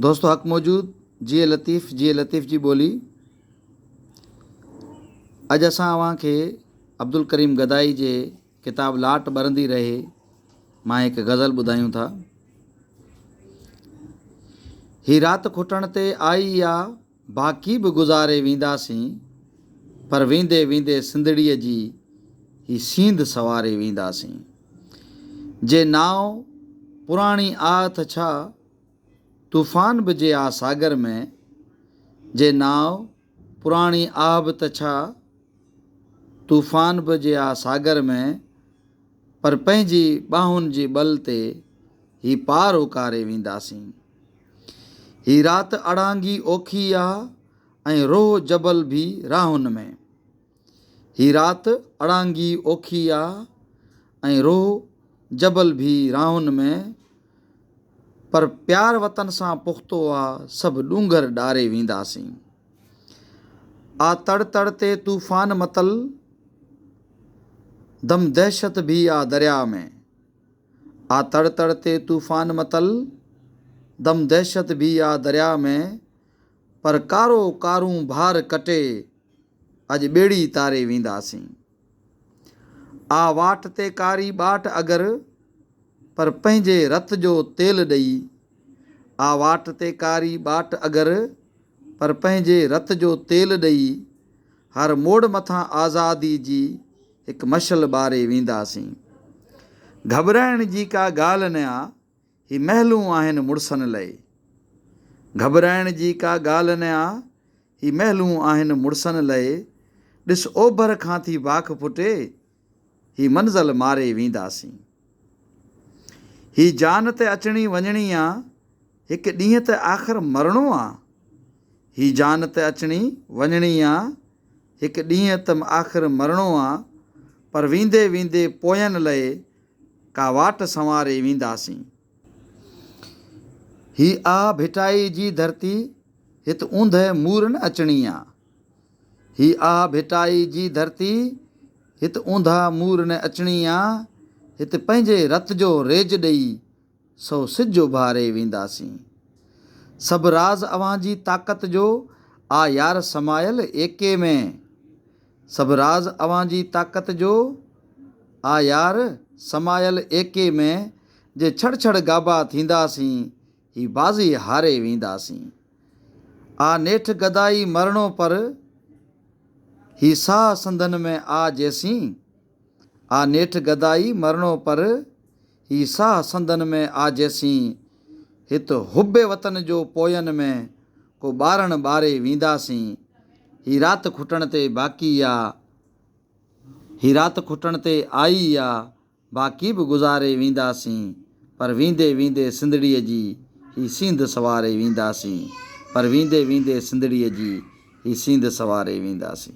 دوستو حق موجود جيئي لطيف جيئي لطيف جي ٻولي اڄ اسان اوهان کي عبدالڪريم گدائي جي ڪتاب لاٽ ٻرندي رهي مان هڪ غزل ٻڌايون ٿا هي رات کٽڻ تي آئي آ باقي به گذاري وينداسين پر ويندي ويندي سنڌڙيء جي هي سينڌ سنواري وينداسين جي نانء پراڻي آء تھ ڇا طوفان به جي آ ساگر ۾، جي نانء پراڻي آء به تھ ڇا طوفان به جي آ ساگر ۾، پر پنهنجي ٻانهن جي ٻل تي هي پار اڪاري وينداسين. هي رات اڙانگي اوکي آ ۽ روح جبل ڀي راهن ۾. هي رات اڙانگي اوکي آ ۽ روح جبل ڀي راهن ۾، پر پيار وطن سان پختو آ سڀ ڏونگر ڏاري وينداسين. آ تڙ تڙ تي طوفان متل دم دهشت ڀي آ درياء ۾. آ تڙ تڙ تي طوفان متل، دم دهشت ڀي آ درياء ۾، پر ڪارو ڪارون ڀار ڪٽي، اڄ ٻيڙي تاري وينداسين. آ واٽ تي ڪاري ٻاٽ اگر، پر پنهنجي رت جو تيل ڏئي آ واٽ تي ڪاري ٻاٽ اگر، پر پنهنجي رت جو تيل ڏئي، هر موڙ مٿان آزادي جي هڪ مشعل ٻاري وينداسين. گهٻرائڻ جي ڪا ڳالهه نه آ، هي محلون آهن مڙسن لئي. گهٻرائڻ جي ڪا ڳالهه نه آ، هي محلون آهن مڙسن لئي. ڏس اوڀر کان ٿي واک ڦٽي، هي منزل ماري وينداسين. هي جان ته اچڻي وڃڻي آ، هڪ ڏينهن ته آخر مرڻو آ. هي جان ته اچڻي وڃڻي آ، هڪ ڏينهن ته آخر مرڻو آ، پر ويندي ويندي پوين لئه ڪا واٽ سنواري وينداسين. هي آ ڀٽائي جي ڌرتي، هت اوندهه مورن اچڻي آ. هي آه ڀٽائي جي ڌرتي، هت اونڌا مور نه اچڻي آ، هت پنهنجي رت جو ريج ڏئي، سو سج اڀاري وينداسين. سڀ راز اوهان جي طاقت جو آ يار سمايل ايڪي ۾. سڀ راز اوهان جي طاقت جو آ يار سمايل ايڪي ۾، جي ڇڙ ڇڙ گابا ٿينداسين، هي بازي هاري وينداسين. آ نيٺ گدائي مرڻو پر، هي ساهه سنڌن ۾ آ جيسين. آ نيٺ گدائي مرڻو پر، هي ساهه سنڌن ۾ آ جيسين. هت حب وطن جو پوين ۾، ڪو ٻارڻ ٻاري وينداسين. هي رات کٽڻ تي باقي آ، هي رات کٽڻ تي آئي آ. باقي به گذاري وينداسين پر ويندي ويندي سنڌڙيء جي هي سينڌ سواري وينداسين پر ويندي ويندي سنڌڙيء جي هي سينڌ سواري وينداسين.